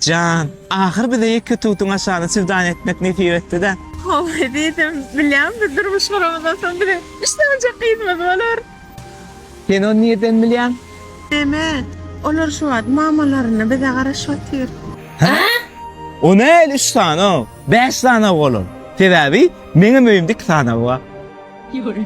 Jan, ahyr bize ýeke tutuň aşagyny çüwdän etmek nesip etdi-dä. Hawa, diýdim. Bilýän, biz durmuş guramyzdan soň biziň üç sanjak gyzymyz bolar. Sen ony nirden bilýäň? Näme, olar şu wagt mamalaryna bize garaşyp otyr. Hä? O näl üç sanag? Bäş sanag bolar. Sebäbi meňem öýümde iki sanag bar. Ýöne.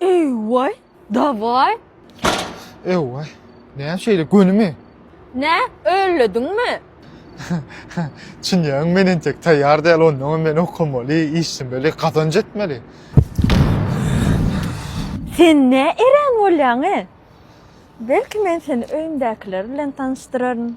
Eýway, dawaý. Eýway, näme şeýle gönümi? Nä, öllediňmi? Çynýagyň men entek taýýar däl, onnoňam men okamaly, işlemeli, gazanç etmeli. Sen nä erän bolýaň-e? Belki men seni öýümdäkiler bilen tanyşdyraryn.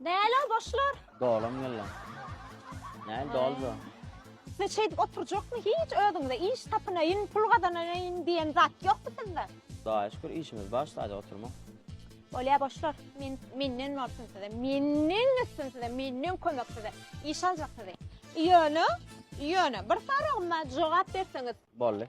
Näle o boşlar? Dolam geldi. Näle doldu? Size şeýdip oturjakmy? Hiç özüňize iş tapynaýyn, pul gazanaýyn diýen zat ýokmy sizde? Hudaýa şükür işimiz bar, sadä oturmak. Bolýar boşlar. Men menden bolsun size. Menden üstün size, menden kömek size. Iş aljak sizi. Ýöne, ýöne bir soragym bar, jogap berseňiz. Boldy.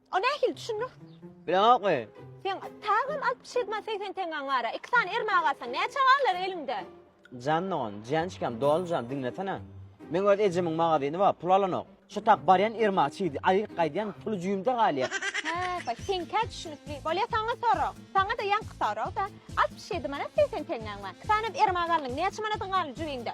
O nähili düşünmek? Bileňokmy? Sen tagam altmyş ýedi manat segsen teňňäň bar-a. Iki sany ermä galsa, näçe galar eliňde? Jan dogan, jançkam, doly jan, diňlesene. Meň öz ejemiň magazyny bar, pul alanok. Şu tak barýan erma çigdi, aýyryp gaýdýan, puly jüýümde galýar. Hä-baý, seňkä düşünikli. Bolýa saňa sorag. Saňa-da ýaňky sorag-da. Altmyş ýedi manat segsen teňňäň bar. Iki sany erma galdyň. Näçe manadyň galdy jübiňde?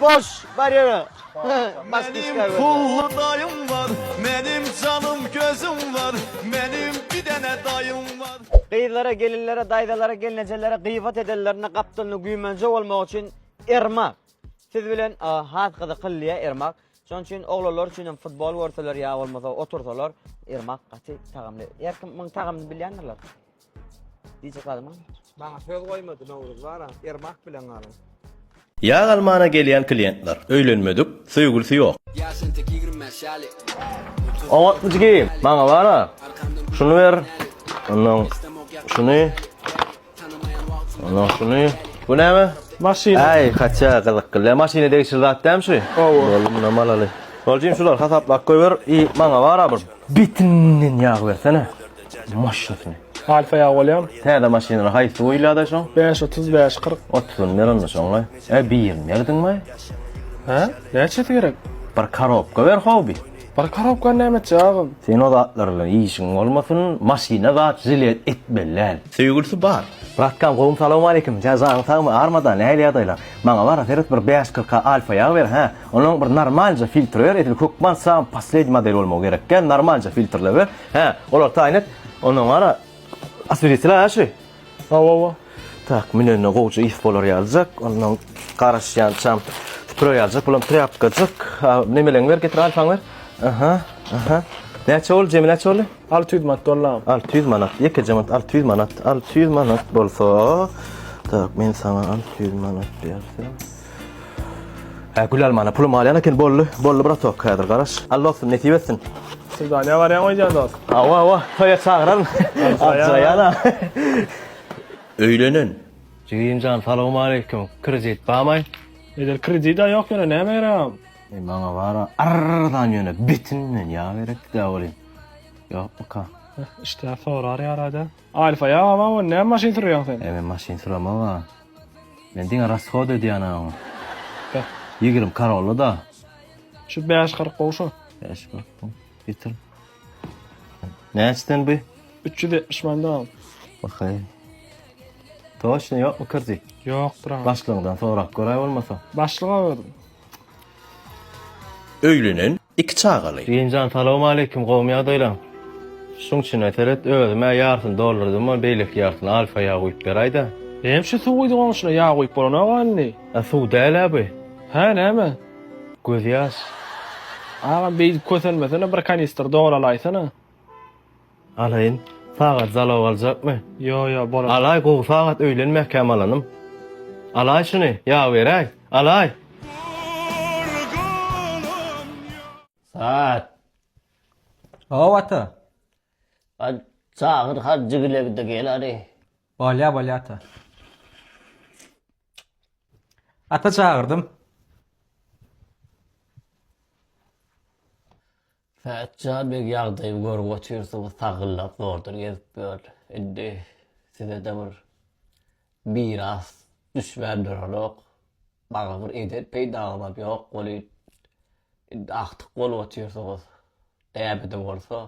Boş bar ýere. Menim pully daýym bar, menim janym gözüm bar, menim bir dene daýym bar. Gyzlara, gelinlere, daýzalara, gelnejelere gyýbat edenlerinde gapdalynda güýmenje bolmagy üçin Ermak siz bilen has gyzykyllyýa Ermak. Şonuň üçin oglanlar üçin hem futbol görseler ýa bolmasa otursalar Ermak gaty tagamly. Her kim muň tagamyny bilýändirler. Diýjek zadymam, maňa söz goýmady Nowruz baram, Ermak bilen galyň. Ýag almana gelýän kliýentler, öýlenmedik, söýgülisi ýok. Ýaş entek ýigrimi bäş ýaly. Oňatmy jigi? Maňa bara, şuny ber, ondan şuny, ondan şuny. Bu näme? Maşyn. Äý, kaça gyzykly. Lä maşyna degişli zat dämi şu? Hawa. Boldy, munam alaly. Bol jigim, şulary hasaplap goýber i maňa bara bir bitinden ýag bersene. maşynyny. Alfa ýagy bolýamy? Täze maşynlar haýsy goýulýada şoň? Bäş otuz, bäş kyrk. Otuzyny ber onda şoňa. Ä birini berdiňmi? Hä? Näçesi gerek? Bir karobka ber howby. Bir karobkany näme etjek agam? Sen o zatlar bilen işiň bolmasyn, maşyna zat žilez etmeli däl. Söýgülisi bar. Bratkam gowmy salowmaleýkim ja janyň sagmy armada nähili ýagdaýlar maňa bara seret bir bäş kyrka alfa ýag ber hä onuň bir normalja filtri ber edil hökman sam posledni model bolmagy gerek gel normalja filtrle ber Hä, olar taýyn et. Ondan gara, asbiritilaý aşy. Hawa-wa. Tak, münende gowja ys bolar ýalyjak. Ondan garaşýançam süpürä ýalyjak. Bulam trýapkajyk. A, nemeleňi ber, getir, alfaňy ber. Aha, aha. Näçe boldy, jemi näçe boldy? Alty ýüz manat boldy, agam. Alty ýüz manat. Ýekeje manat, alty ýüz manat. Alty ýüz manat bolsa, tak, men saňa alty ýüz manat berseň. Hä gülalmana pulum galýan eken boldy boldy bratok häzir garaş al dostum nesip etsin. Swidaniýa barýaňmy eýýäm dost? Hawa hawa toýa çagyraryn. Ajraýana. Öýlenen. Jigimjan salowmaleýkim kredit bamy? Edil kredida ýok ýöne näme geregam. Eý maňa bara arzan ýöne betin men ýa gerekdä bolýan. Ýokmyka. Işdä sorar ýarada. Aýl saýaw abaw näme maşyn sürýäň sen. Eý men maşyn süremok a. Men diňe rashod edýän a ony. Beh. Ýigrim karolla da. Şu bäş kyrk gowy şu. Bäş kyrk gowy. Getir. Näçeden bu? Üç ýüz ýetmiş mandan aldym. Bakaý. Toçny ýokmy kirdi? Ýokdur a. Başlygyňdan sorap göräý bolmasa. Başlyga berdim. Öýlenen, iki çagaly. Birinjan salowmaleýkim gowmy ýagdaýlaň? Şuň içine seret özüm-ä ýarsyny doldurdym-a beýleki ýarsyny alfa ýag guýup beräýdä. Eem şu suw guýdy goňşyna ýag guýup bolanok-a indi. A suw däl-ä bu. Hä näme? Gözýaş. Agam beýdip kösenmesene bir kanistr dolalaýsana. Alaýyn sagat zalow aljakmy. Ýo ýo bolar. Alaý gowy sagat öýlen mäkäm alanym. Alaý şuny ýa beräý. Alaý. Saat. Hawa ata. Haj çagyr hajjygilebide gel hadi. Bolýa bolýa ata. Ata çagyrdym. Pätja beg ýagdaýy görüp otyrsyňyz sagyllap zordan gezip ýör. Indi sizede bir miras düşmän duranok. Maňa bir eden peýdaňyzam ýok welin, indi agtyk bolup otyrsyňyz. Näme-de bolsa,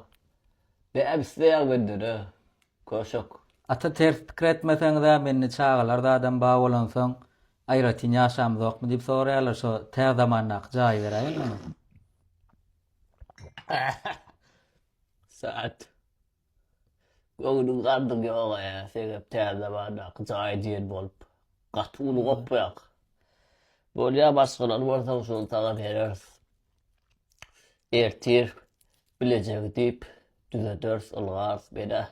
näme isleýäň menden-ä, köşek? Ata ters pikir etmeseňiz-ä, mende çagalar zadam bar bolansoň, Aýratyn ýaşamyzokmy diýip soraýarlar şo tä zamandaky jaýy beräýeli onuň. Saat. Göwnüň gardyň ýoga ýa sebäp tä zamandaky jaýy diýen bolup gaty uly gopýak. Bolýa başgalary bolsa şony saňa bereris. Ertir bilejegi diýip düzederis ylgaz bela.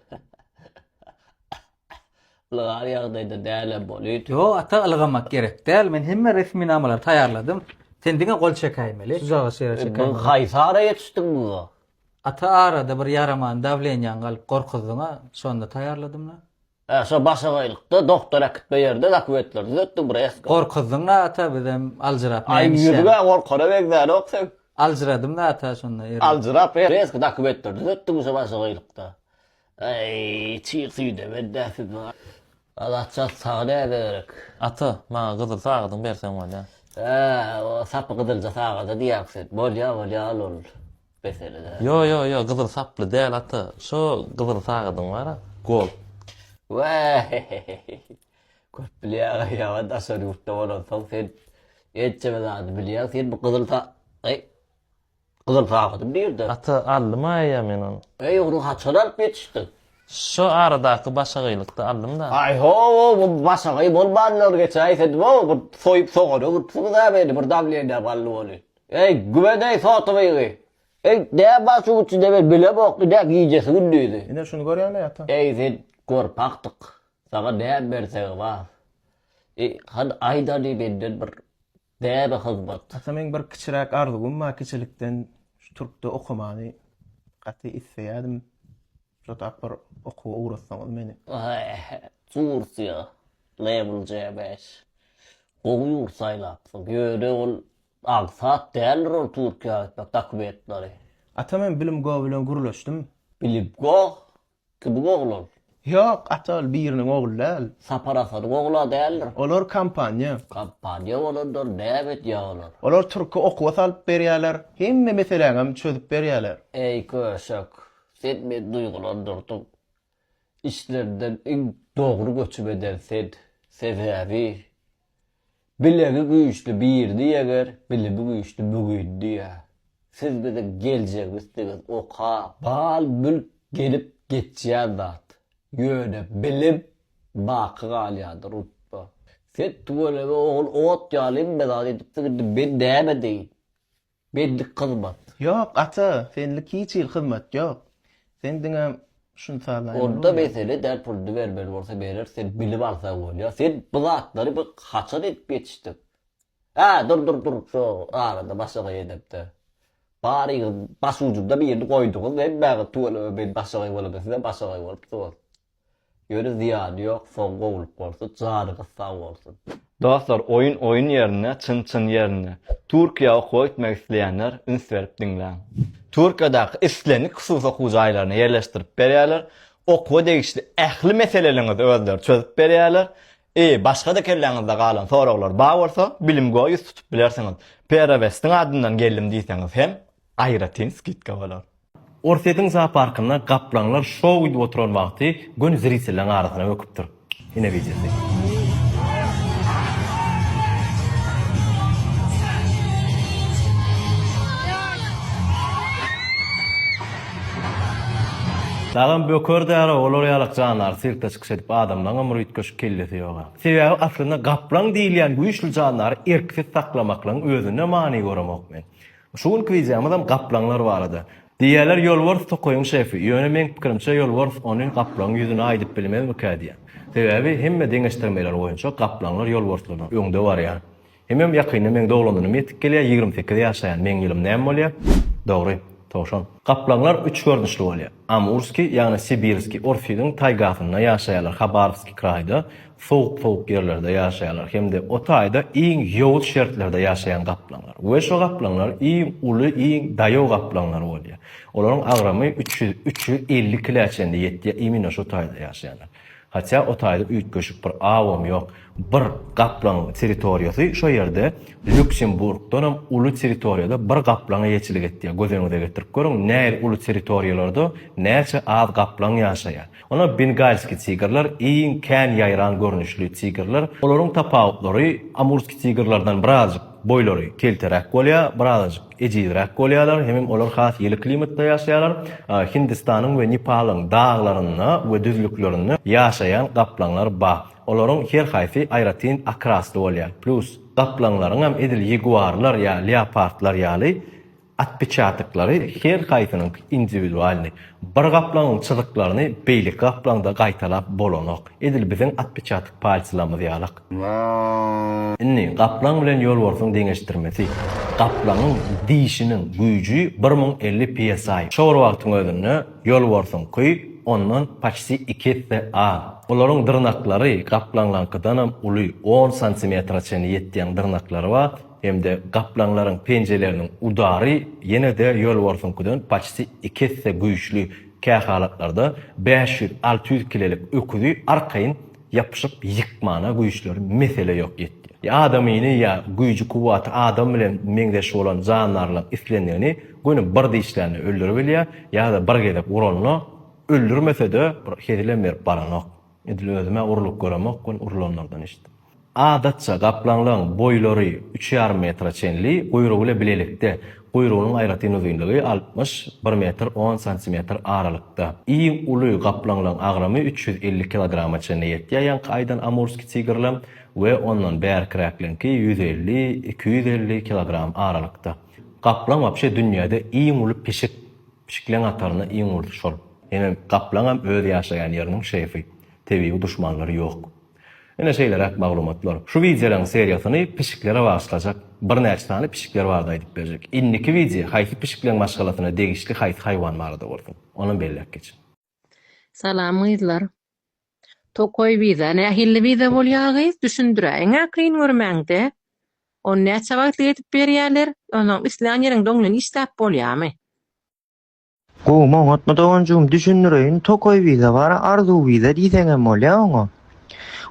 Ylgar ýagdaýda dälem bolýd. Ýo ata ylgamak gerek däl men hemme resminamalary taýýarladym. Sen diňe gol çekäýmeli. Suzaga şeýle çekäýmeli. Bu haýsy ara ýetişdiň muňa? Ata arada bir ýaraman dawleniýaň galyp gorkuzdyňa şonda taýýarladymda. Hä şo başagaýlykda dogtor äkitme ýerde zakwetler düzetdi bir eski. Gorkuzdyň zata bizem aljyrap näme işleýäň. Aý ýüzüňä gorkara begzänok seň. Aljyradym zata şonda ýeri. Aljyrap bir eski zakwetler düzetdiň şo başagaýlykda. Aý çyg süýde beddä siz. Azatjan saňa näme gerek. Ata, maňa gyzyl sagadyňy berseň bolýa. Hä, o sapy gyzylja sagada diýýäň sen. Bolýa, bolýa al ol. Beseli däl. Ýo ýo ýo gyzyl saply däl ata şo gyzyl sagadyň bara gold. Weeehehehehehe köp bilýä aga ýa daşary ýurtda bolansoň sen ençeme zady bilýäň sen bu gyzyl sa eý gyzyl sagadym nirde? Ata aldym aýýa men ony. Eý ony haçan alyp ýetişdiň? Şo aradaky başagaýlykda aldym da. Aý ho-o bu başagaý bolmandyr geçen aý sen nima bu soýup sogana gitipsiňiz-ä meni bir damlenä galdy welin. Eý, gübedeý sotybygy! Eý, dä baş uçy debir bile bokdy dä gijesi-gündizi! Ine, şuny görýäň-le, ata! Eý, sen gorpakdyk! Saňa dä bersegi bar! Eý, han, aýda-de menden bir däbe hyzmat! Ata, meň bir kiçiräk arzuwym bar, kiçilikden şu türkde okamany gaty isleýädim. Şudak bir okuwa ugratsaňyz meni! Eý, Tursiýa, Level J beş! Gowy ýurt saýlapsyň. Ýöne ol Aňsat däldir ol Türkiýä gitmek dokumentleri. Ata men bilim go bilen gürleşdim. Bilip go? Kimiň ogly ol? Ýok ata ol biriniň ogly däl. Sapar Asadyň ogla däldir. Olar kompaniýa. Kompaniýa bolandyr näme edýä olar. Olar türki okuwa salyp berýäler hemme meseläňem çözüp berýäler. Eý köşek sen meni duýgulandyrdyň. Içlerinden iň dogry göçüp eden sen, sebäbi Bilegi güýçli birini ýeňer, bilimi güýçli mügini diýýär. Siz biziň geljegimizsiňiz oka, mal mülk gelip geçýän zat, ýöne bilim baky galýandyr unutma. Sen tüweleme ogul ot ýaly inbe zat edipsiň indi men näme deýin. Bellik hyzmat. Ýok, ata, senlik hiç hili hyzmat ýok. Sen diňe şuny sazlaýan bolsaň Onda mesele däl, puluny bermeli bolsa berer, sen bilip alsaň bolýar. Sen bu zatlary biz haçan edip ýetişdik? Hä, dur, dur, dur, şo arada başagaý edepde. Baryňyz başujunda birini goýduňyz, hemmäňiz tüweleme men başagaý bolamda, sizem başagaý bolupsyňyz. Ýöne zyýany ýok soň gowulyk bolsun janyňyz sag bolsun. Dostlar oýun oýun ýerinde çyn çyn ýerinde. Türkiýä okuwa gitmek isleýänler üns berip diňläň. Türkiýadaky islendik hususy okuw jaýlaryna ýerleşdirip berýärler. Okuwa degişli ähli meseleleňizi özleri çözüp berýärler. I başga-da kelläňizde galan soraglar bar bolsa, bilimgoa ýüz tutup bilersiňiz. Perovestiň adyndan geldim diýseňiz hem aýratyn skidka bolar. Orsýetiň zooparkynda gaplaňlar şou gidip oturan wagty göni zritelleň arasyna böküpdir. Ine wideosy. Dagam böker dälä olar ýalak jandary sirkde çykyş edip adamlaňam bir üýtgeşik kellesi ýoga. Sebäbi aslynda gaplaň diýilýän güýçli jandary erksiz saklamaklygyň özünde many göremok men. Şu günki wideomyzam gaplaňlar barada. Diýýärler ýolbars tokaýyň şefi, ýöne meň pikirimçe ýolbars ony gaplaňyň ýüzüne aýdyp bilmezmikä diýýän. Sebäbi hemme deňeşdirmeler boýunça gaplaňlar ýolbarslardan öňde barýar. Hemem ýakynda meň doglandynym ýetip gelýär, ýigrimi sekiz ýaşaýan meň ýylym näme bolýar? Dogry, towşan. Gaplaňlar üç görnüşli bolýar. Amurskiý, ýagny Sibirskiý Orsyýdiň taýgasynda ýaşaýarlar, Habarowskiý kraýda, sowuk-sowuk ýerlerde ýaşaýarlar hem-de o taýda iň ýowuz şertlerde ýaşaýan gaplaňlar we şo gaplaňlar iň uly, iň daýaw gaplaňlar bolýar. Olaryň agramy üç ýüz, üç ýüz elli kile çenli ýetýär, imino şo taýda ýaşaýanlar. Hatya o taýda üýtgeşik bir awam ýok. Bir gaplaň territoriýasy şo ýerde Lýuksemburgdanam uly territoriýada bir gaplaňa ýeçilik etýär. Göz öňüňize getirip görüň, näil uly territoriýalarda näçe az gaplaň ýaşaýar. Onam bengalski tigrler iň kän ýaýran görnüşli tigrler. Olaryň tapawutlary amurski tigrlerden birazajyk boýlary kelteräk bolýar, birazajyk Ejizräk bolýarlar, hemem olar has ýyly klimatda ýaşaýarlar. Hindistanyň we Nepalyň daglarynda we düzlüklerinde ýaşaýan gaplaňlar bar. Olaryň her haýsy aýratyn akrasly bolýar. Plus, gaplaňlaryňam edil ýaguarlar ýa leopardlar ýaly otpeçatyklary her haýsynyňky indiwidualnyý. Bir gaplaňyň çyzyklaryny beýleki gaplaňda gaýtalap bolanok. Edil biziň otpeçatyk palçylarymyz ýalak. Indi, gaplaň bilen ýolbarsyň deňeşdirmesi. Gaplaňyň dişiniň güýji bir müň elli PSI. Şo bir wagtyň özünde ýolbarsyňky ondan paçti iki esse az. Olaryň dyrnaklary gaplaňlaňkydanam uly, on santimetre çenli ýetýän dyrnaklary bar hem-de gaplaňlaryň penjeleriniň udary ýene-de ýolbarsyňkydan paçti iki esse güýçli. Kähalatlarda bäş ýüz, alty ýüz kilelik öküzi arkaýyn ýapyşyp ýykmana güýçleri mesele ýok ýetýär. Adamyny ýa güýji-kuwwaty adam bilen meňzeş bolan jandarlaryň islendigini göni bir dişlände öldüribilýär ýa-da bir gezek uranda öldürmese-de bir hezilem berip baranok. Edil özüm-ä urlup göremok, ol urlanlardan eşitdim. Adatça, gaplaňlaryň boýlary üç ýarym metre çenli, guýrugy ile bilelikde, guýrugynyň aýratyn uzynlygy altmyş bir metr on santimetr aralykda. Iň uly gaplaňlaryň agramy üç ýüz elli kilograma çenli ýetýär, ýaňky aýdan amurskiý tigirler, we ondan bärkiräkleriňki ýüz elli, iki ýüz elli kilogram aralykda. Gaplaň wapşe dünýäde iň uly pişik. Pişikleň hataryna iň ulusy şol. Ine, gaplaňam öz ýaşaýan ýeriniň şeýfi, tebigy duşmanlary ýok. Ine şeýleräk maglumatlar. Şu wideolaryň seriýasyny pişiklere bagyşlajak. Birnäçe sany pişikler barada aýdyp berjek. Indiki wideo haýsy pişikleň maşgalasyna degişli haýsy haýwan barada bolsun. Onam belläp geçiň. Salam gyzlar. Tokaý wiza nähilli wiza bolýa gyz düşündiräýiňä kyn görmäňde. Ony näçe wagtlyk edip berýäler? Onam islän ýeriňde oň bilen işläp bolýamy? Gowy maňatmy doganjygym düşündireýin tokaý wiza bar arzuw wiza diýseňem bolýa oňa.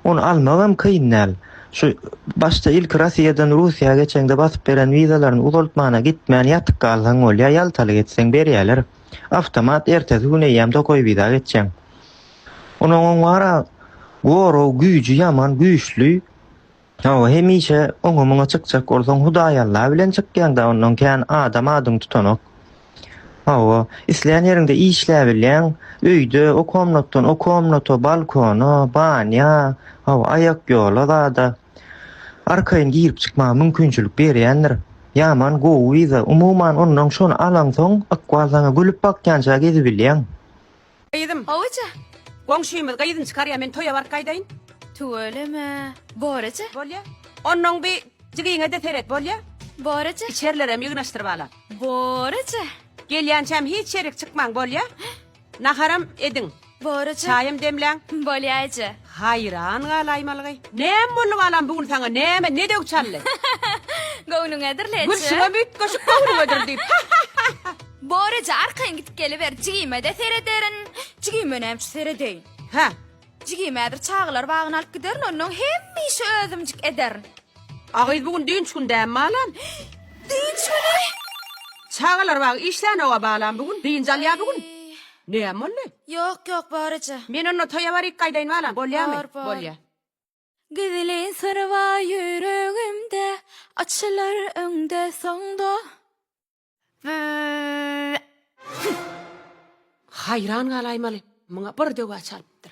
Ony almak hem kyn däl. Şu başda ilki Rossiýadan Russiýa geçeňde basyp beren wizalaryny uzaltmana gitmän ýatyk galsaň bolýa ýaltalyk etseň berýäler. Awtomat ertesi gün eýýäm Tokoýbiza geçjeň. Onuň wara gorag güýji ýaman güýçli. Hawa, hemişe oňa-muňa çykjak bolsaň, Hudaý Alla bilen çykýaň-da, ondan kän adam adyňy tutanok. Hawa, islän ýeriňde işläbilýäň, öýde, o komnatdan o komnata, balkona, banýa, hawa, aýakýola zada. Arkaýyn girip çykmaga mümkinçilik berýändir. Ýaman gowy wiza. Umuman ondan şony alaňsoň ykbal saňa gülüp bakýança gezibilýäň. Gyzym. Howaja. Goňşymyz gyzyny çykarýa men toýa baryp gaýdaýyn. Tüweleme. Boraja. Bolýa. Onnoň bi jigiňede seret bolýa. Boraja. Içerilerem ýygnaşdyryp ala. Boraja. Gelýänçäm hiç ýerik çykmaň bolýa. Naharam ediň. Borajy. Çaýam demläň. Bolýajy. Haýran galaýmalygy. Näme boldy balam bu gün saňa näme ne döw çaldy. Göwnüňedir leçe. Gülşiňem üýtgeşik göwnüňedir diýip. Borajy arkaýyn gidip geliber jigime-de serederin. Jigime nämçe seredeýin. Hä. Jigim häzir çagalar bagyna alyp giderin onnoň hemme işi özümjik ederin. A gyz bu gün dynç gün dämi balam. Dynç güni? Çagalar bagy işlänoga balam bu gün dynç alýa bu gün. Näme boldy? Ýok ýok bar eje. Men onda toýa baryk gaýdaýyn balam bolýamy? Bar bar. Bolýa. Gizli syr bar ýüregimde açylar öňde soňda. Haýran galaýmaly, muňa bir döwä çalypdyr.